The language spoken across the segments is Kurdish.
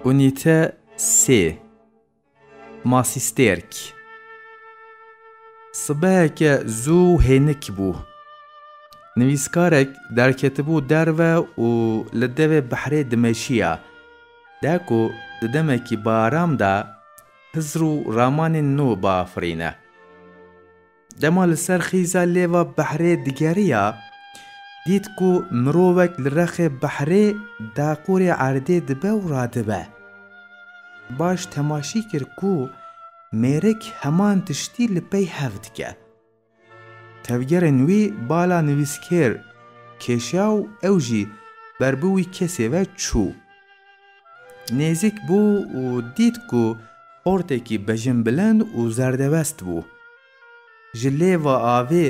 Unîte sê Masî stêrk Sibeheke zû hênik bû. Nivîskarek derketibû derve û li devê behrê dimeşiya. De ku di demekî bi aram de Hizr û ramanên nû biafirîne. Dema li ser xîza lêva behrê digeriya, dît ku mirovek li rexê behrê daqûrê erdê dibe û radibe. Baş temaşî kir ku mêrik heman tiştî li pey hev dike. Tevgerên wî bala nivîskêr kêşiya û ew jî ber bi wî kesê ve çû. Nêzik bû û dît ku ortekî bejinbilind û zerdebest bû. Ji lêva avê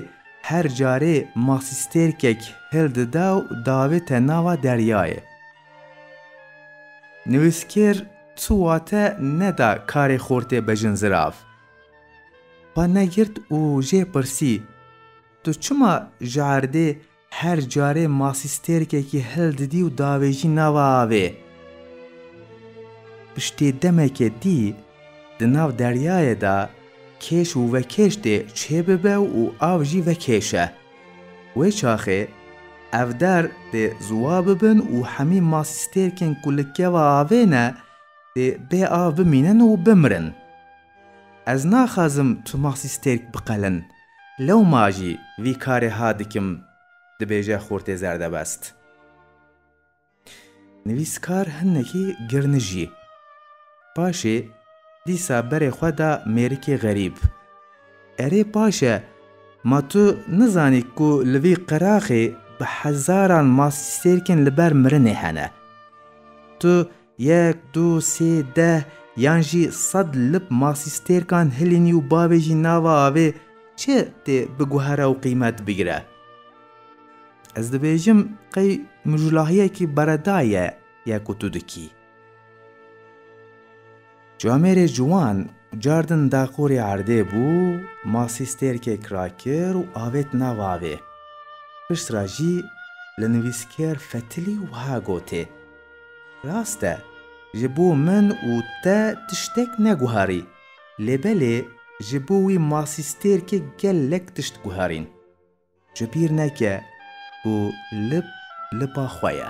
her carê masîstêrkek hil dida û davête nava deryayê. Nivîskêr tu wate neda karê xortê bejin zirav. Xwe negirt û jê pirsî, Tu çima ji erdê Her carê masî stêrkekî hil didî û davêjî nava avê. Piştê demekê dî di nav deryayê de kêş û vekêş dê çê bibe û av jî vekêşe. Wê çaxê ev der dê ziwa bibin û hemî masî stêrkên ku li keva avê ne dê bê av bimînin û bimirin. Ez naxwazim tu masî stêrk biqelin. Lewma jî vî karê ha dikim, dibêje Xortê Zerdebest. Nivîskar hinekî girnijî. Paşê dîsa berê xwe da mêrikê xerîb. Erê paşe, ma tu nizanî ku li vî qiraxê bi hezaran masîsêrkên li ber mirinê hene. Tu Yek, du, sê, deh yan jî sed lip masî stêrkan hilînî û bavê jî nava avê çi tê biguhere û qîmet bigire. Ez dibêjim qey mijûlahiyekî beredayî ye ku tu dikî. Camêrê ciwan cardin daqûrê erdê bû, masî stêrkek rakir û avêt nav avê. Pişt ra jî li nivîskêr Fetilî wiha gotê, Rast e, ji bo min û te tiştek neguherî, lê belê ji bo wî masî stêrkê gelek tişt guherîn. Ji bîr neke ku lip lipa xwe ye.